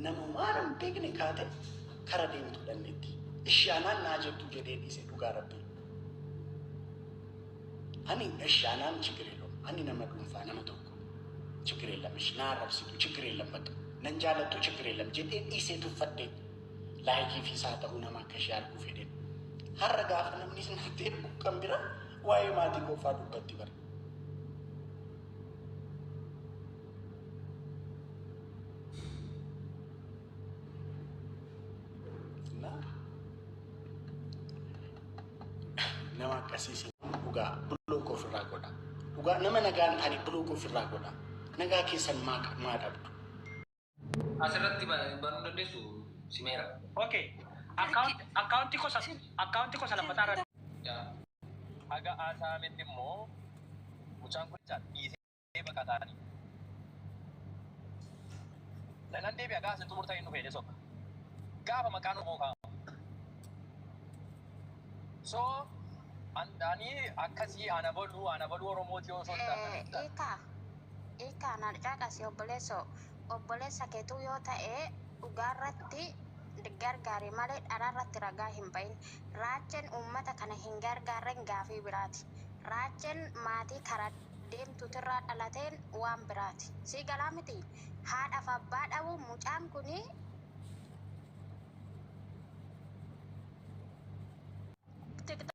namumaa nam beekne kaate kara deemtu dhannetti ishaanaan naa jettu jedhee dhiise dhugaa rabbii ani ishaanaan chigireelo ani nama dhuunfaa nama tokko chigireelam ishnaa rabsitu chigireelam bakka nan jaalattu chigireelam jedhee dhiisee tuffadhee Laayikii fi isaa ta'uu nama akka ishee arguu fedheen. Har'a gaafa namni si natti ergu kan bira waa'ee maatii koo fa'aa dubbatti bara. እና nama akkasii si dhugaa buloo koo ofirraa godha. Dhugaa nama nagaan taane buloo koo ofirraa godha. Nagaa keessan maa maa dhabdu? Asirratti banuu dandeessu simeera. Ok. Akkaawuntii kosa akkaawuntii kosa lammataa irra. Haga haasa'ametti immoo mucaan kun jecha dhiisee baqataanii. Nanan deebi'a gaafa isin xumurtan hin dhufeedhe soba. Gaafa maqaan Oromoo kaa'amu. So ani akkasii ana baluu ana baluu Oromootii osoo hin taane. Ilkaan haadha caqasi obboleessoo. Obboleessa keetuu yoo ta'e dhugaarratti gargaari malee dharaarratti ragaa hin ba'in. Raacheen uummata kana hin gargaarren gaafii biraati. Raacheen maatii kara deemtuutirraa dhalateen waan biraati. Sii galaa miti? Haadhaaf abbaa dhabuu mucaan kuni tiktok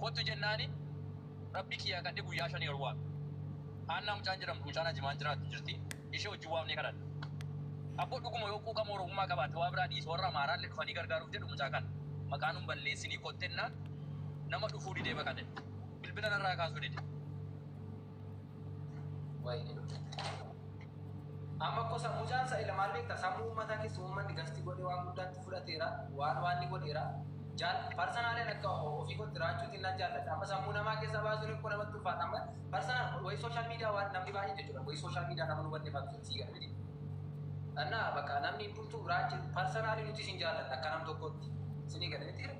Kottu jennaani Rabbi kiyya kad'e guyya shani olwaame. Haannaa mucaan jedhamtu mucaan Ajimaan jiraattu jirti, ishee wajjin waamnee kadhanne. Abbo dhuguma yoo quuqama Oromummaa qabaatte waa biraa dhiisi warra Amaaraallee dhufanii gargaaruuf jedhu mucaa kana maqaa nun balleessinii kottennaan nama dhufuu didee baqate. Bilbila narraa kaasuu dide. Waa'ee amma ko sammuu jaansa ila maal beekta sammuu uummataa keessa uummanni gasti godhee waan guddaatti fudhateera waan waan ni godheera jaal parsanaaleen akka ofii kootti raachuutiin nan jaallata amma sammuu namaa keessa baasuun hin namatti ulfaata amma parsanaan wayi sooshaal miidiyaa waan namni baay'ee jechuudha wayi sooshaal miidiyaa nama nu banne faatu sii gala miti annaa bakka namni hundumtuu raachi parsanaalii nuti isin jaallanna akka nam tokkotti sinii gala miti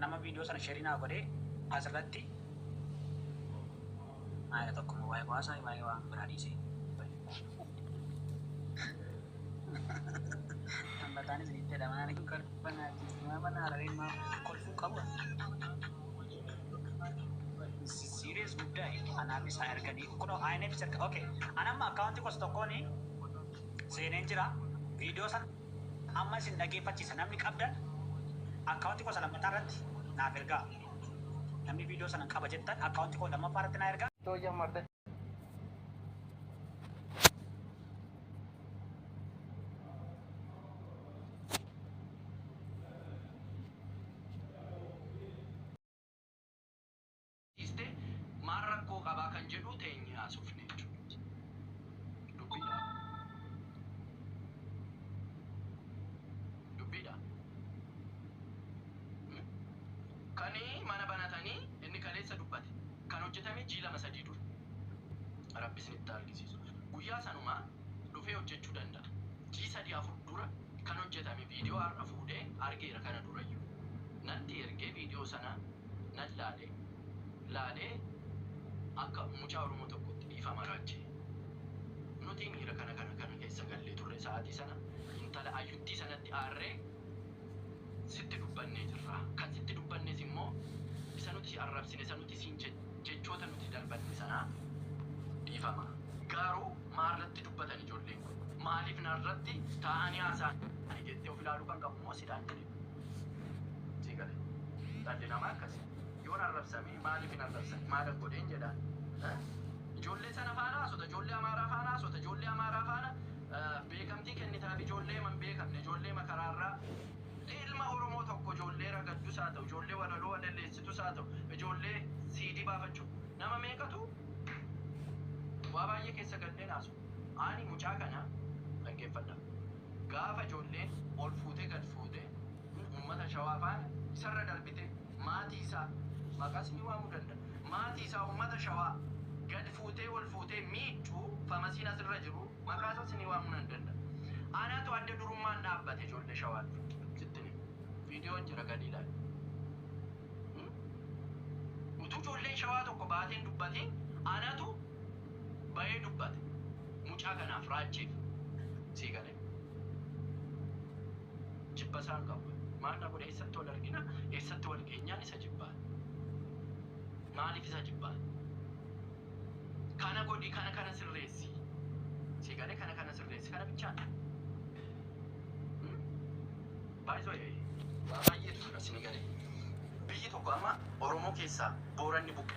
Nama video sana sheri naa godhe asirratti maayila tokko moo waa'ee waasaa waa'ee waan biraa dhiisee. Hambataan isinitti jedha maal hin kolfan ajjeesu maa mana harareen maa kolfuu qabu. Serious guddaa anaaf isaa erganii kunoo INF isa erga okay anamma akkaawuntii kos tokkoon seeneen jira video sana Amma isin dhageeffachiisa namni qabdan account koo isa lammataa irratti naaf ergaa namni video sanan qaba jettan account koo lammaffaa irratti naa ergaa. Too jammarde. dhiiste maal rakkoo qabaa kan jedhuu teenyee haasofne jechuudha. Dubbiidha. Dubbiidha. Kani mana banatanii inni kaleessa dubbate kan hojjetame jii lama sadii dura. Rabbi isinitti argisiisu. Guyyaa sanumaa dhufee hojjechuu danda'a. Jii sadii afur dura kan hojjetame viidiyoo har'a fuudhee argeera kana durayyuu. Natti ergee viidiyoo sana nan laale. Laalee akka mucaa Oromoo tokkootti dhiifama raajjee. Nuti miira kana kana kana keessa gallee turre sa'aatii sana intala ayyuttii sanatti aarree sitti dubbannee jirra. Kan sitti dubbannes immoo isa nuti si arrabsine, isa nuti siin je, jechoota nuti darbanne sana dhiifama. Garuu maalratti dubbatan ijoolleen kun? Maaliif narratti taa'anii haasa'ani? jettee of ilaaluu kan qabu immoo sidha. Sii gale. Dhalli namaa akkasi. Yoon arrabsame maaliif hin arrabsan? Maalan godheen jedhaan. Eh? Ijoollee sana faana haasota, ijoollee Amaaraa faana haasota, ijoollee Amaaraa faana eh, beekamtii kennitaaf ijoollee man beekamne, ijoollee makaraarraa ilma Oromoo tokko ijoollee ragaddus haa ta'u, ijoollee walaloo walalleessitus haa ta'u, ijoollee siidii baafachuu nama meeqatu waa baay'ee keessa galleen haasu. Ani mucaa kana dhaggeeffadha. gaafa ijoolleen ol fuutee gad fuute uummata shawaa faana isarra darbite maatii isaa maqaas ni waamuu danda'a maatii isaa uummata shawaa gad fuutee ol fuutee miidhu famasiin asirra jiru maqaa isaas ni waamuu nan danda'a anatu adda durummaan dhaabbate ijoollee shawaa dura sittin hima viidiyoon jira gadi ilaali utuu ijoolleen shawaa tokko baateen dubbatiin anatu Bayee dubbate mucaa kanaaf raachiif sii galee jibba isaan qaba maal na godhe eessatti wal argina eessatti wal geenyaan isa jibbaa maaliif isa jibbaa kana godhi kana kana sirreessi sii galee kana kana sirreessi kana bichaa baay'isoo ee waa baay'eetu jira sii galee biyyi tokko amma oromoo keessaa booranni buqqe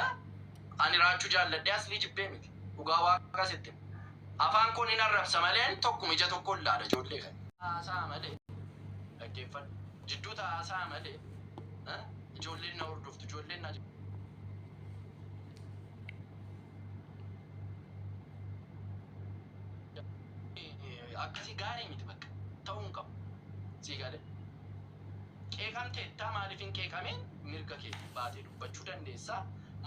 Eh? Ani raachuu jaalladhee aslii jibbee miti. Dhugaa waaqaa sitti hima. Afaan koo nin arrabsa maleen tokkuma ija tokkoon laala ijoollee kana. Haasa'a malee. Dhaggeeffadhu. Jidduu ta'a haasa'a malee. Eh? Ijoolleen na hordoftu, ijoolleen na akkasii gaarii miti bakka ta'uu hin qabu sii galee qeeqamtee ittaa maaliif hin qeeqamee mirga kee baatee dubbachuu dandeessa.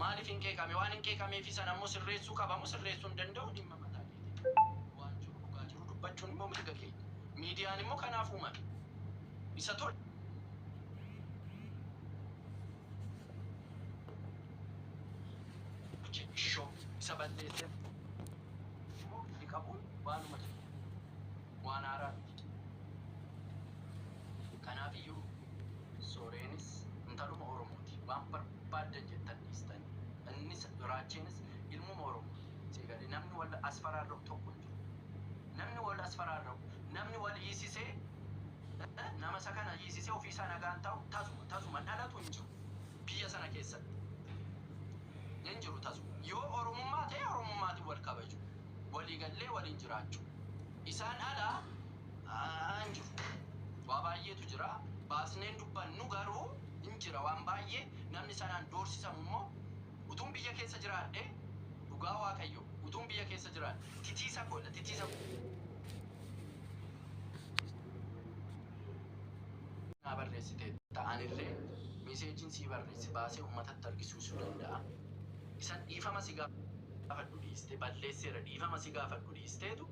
Maaliif hin qeeqame? Waan hin qeeqameefi sana immoo sirreessuu qaba moo sirreessuu hin danda'u dhimma mataa keetii dha. Waan jiru dhugaa jiru dubbachuun immoo mirga keenya. Miidiyaan immoo kanaaf uumame. Isa tol. Buche Ishoo isa balleesseef immoo giddi qabuun waanuma jiru. waan haaraa miti. Kanaafiyyuu Sooreenis intaluma Oromooti. Waan barbaaddan jettan dhiistan. Innis, Raacheenis ilmuma Oromooti. Sii galee? Namni wal asfaraarra'u tokko hin jiru. Namni wal asfaraarra'u, namni wal hiisisee, nama isa kana hiisisee ofii isaa nagaan taa'u tasuma, tasuma dhalatu hin jiru. Biyya sana keessatti. Hin jiru tasuma. Yoo Oromummaa ta'e Oromummaatiin wal kabaju. walii gallee waliin jiraachuu. Isaan ala hin jiru. Waa baay'eetu jira. Baasnee hin dubbannu garuu hin jira waan baay'ee. Namni sanaan doorsisamu immoo utuun biyya keessa jiraadhee dhugaa Waaqayyoo utuun biyya keessa jiraadhe titiisa koo dha titiisa koo. naa barreessiteetta anillee miseejiin sii barreesse baasee ummatatti argisiisuu danda'a isan dhiifama si gaafadha. gaafadhu dhiiste balleesseera dhiifama si gaafadhu dhiisteetu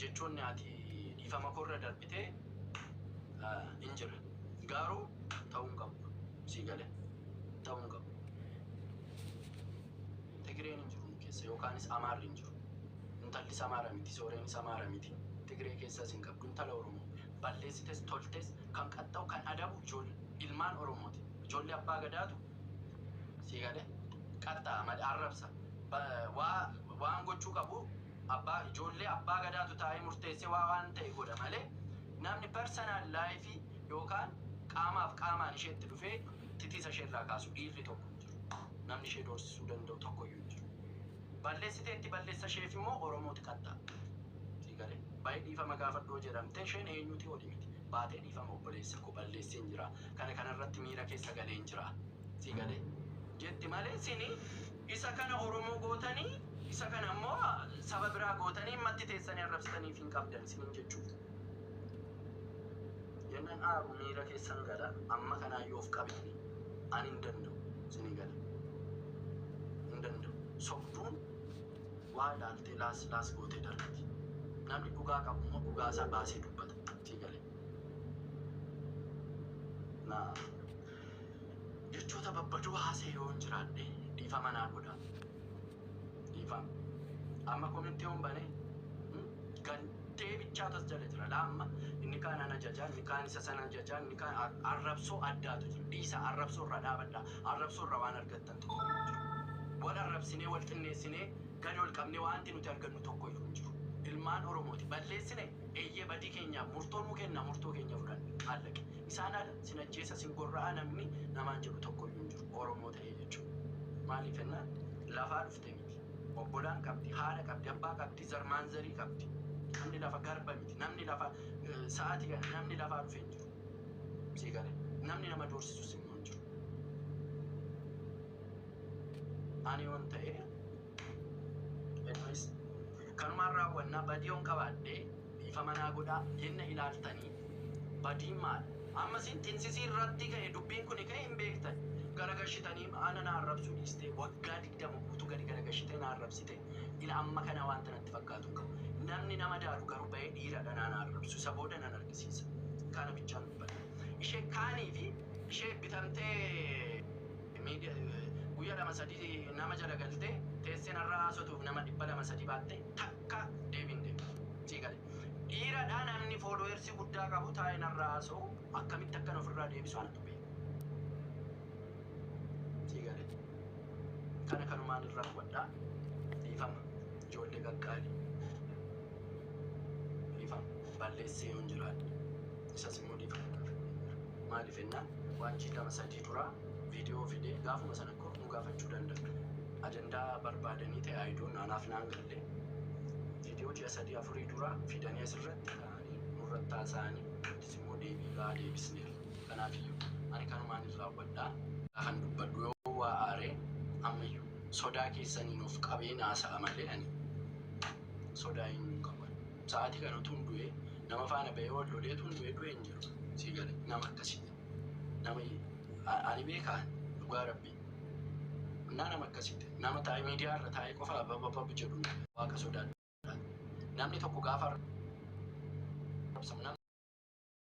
jechoonni ati dhiifama koo irra darbite hin jira gaaruu ta'uu hin qabu kun sii galee ta'uu hin qabu Tigireen hin jiru nu keessa yookaanis Amaarri hin jiru intallis Amaara miti sooreenis Amaara miti Tigiree keessas hin qabdu intala Oromoo balleessites toltes kan qaxxa'u kan adabu ijoollee ilmaan Oromooti ijoollee abbaa gadaatu sii gale qatta mad arrabsa ba waa waan gochuu qabu abbaa ijoollee abbaa gadaatu taa'ee murteessee waa waan ta'e godha malee namni personal life yookaan qaamaaf qaamaan isheetti dhufee titiisa ishee irraa kaasu dhiirri tokko hin jiru namni ishee doorsisuu danda'u tokko iyyuu hin jiru balleessiteetti balleessa isheef immoo oromooti qatta sii gale baay'ee dhiifama gaafadhoo jedhamte isheen eenyuti oli miti baatee dhiifama obboleessa koo balleesseen jiraa Kana kana irratti miira keessa galeen jira. Si galee? Jetti malee isin isa kana Oromoo gootanii isa kana ammoo saba biraa gootanii immatti teessanii arrabsitaniif hin qabdan isiniin jechuuf. Jennaan aaru miira keessan gala amma kanaayyuu of qabeeni ani hin danda'u isinii gala. Hin danda'u. Sobduun waa ilaaltee laas laas gootee darbiti. Namni dhugaa qabu immoo dhugaa isaa baasee dubbata. Si galee? Na. Jechoota babbadoo haasa'e yoon jiraadhe dhiifama naa godha. Dhiifama. Amma komentii yoon bane hmm, gantee bichaa tas jala jira. Laa amma inni kaan ana jajaa, inni kaan isa sana jajaa, inni kaan ar- arrabsoo addaatu jiru. Dhiisa arrabsoo irraa dhaabadha. Arrabsoo irraa waan argattan tokko hin jiru. Wal arrabsinee, wal xinneessinee, gadi ol qabnee waanti nuti argannu tokko iyyuu hin jiru. Ilmaan Oromooti. Balleessine Eeyyee, badii keenyaaf murtoo nuu kenna, murtoo keenya fudhanne. Aallaqe. Isaan ala sin ajjeesa, sin gorra'a namni namaan jedhu tokkoyyuu hin jiru. Oromoo ta'ee jechuun. Maaliif jennaan lafaa dhufte miti. Obbolaan qabdi, haadha qabdi, abbaa qabdi, zar maanzarii qabdi. Namni lafa garba miti. Namni lafa sa'aatii kana namni lafaa dhufe hin jiru. Sii galee? Namni nama doorsisus immoo hin jiru. Ani yoon ta'ee. Edomis, Kanumaan raawwanna, badii yoon qabaadhe dhiifama naa godhaa yenna ilaaltanii, Badiin maal? Amma isin xinsisii irratti ka'e dubbiin kuni ka'e hin beektan, garagashitanii ana na arrabsuu dhiistee waggaa 20 guutuu gadi garagashitee na arrabsite, ila amma kana wanta natti fakkaatu hin qabu. Namni na madaalu garuu ba'ee dhiira dha naa na arrabsu, isa booda nan argisiisa. Kana bichaan dubbadhe. Ishee kaanii fi ishee bitamtee. Miidiya guyya lama sadi nama jala galte tesse narra hasotuf nama dhibba lama sadi baatte takka deebi hin deebiftu sii gale dhiiradha namni followers gudda qabu taae narra hasowu akkamitti akkan ofirra deebisu anatu beeka sii gale kana kanumaan irra hubadha dhiifama ijoollee qaqqaali dhiifama balleessee yoon jiraadhe isas immoo dhiifama maalif ennaan waanchi lama sadi dura video fidee gaafuma sana kor nu gaafachuu danda'u. Ajandaa barbaadanii ta'e I don't anaaf naan galle. Video ji'a sadii afurii dura fidanii asirratti ka'anii nurratti haasa'anii nutis immoo deebii gahaa deebisneerra. Kanaafiyyuu ani kanumaanin raawwadha. Kan dubbadhu yoo waa aare ammayyuu sodaa keessaniin of qabeen haasa'a malee ani sodaa eenyuun qabu ani. Sa'aatii kana utuun du'ee nama faana ba'ee wal lolee utuun du'ee du'e hin jiru. Sii galee nama akkasiiti. Nama ani beekaa dhugaa rabbi naa nama akkasitti nama taa'ee miidiyaa irra taa'ee qofa bababab jedhu waaqa sodaadha namni tokko gaafa arrabsamu namni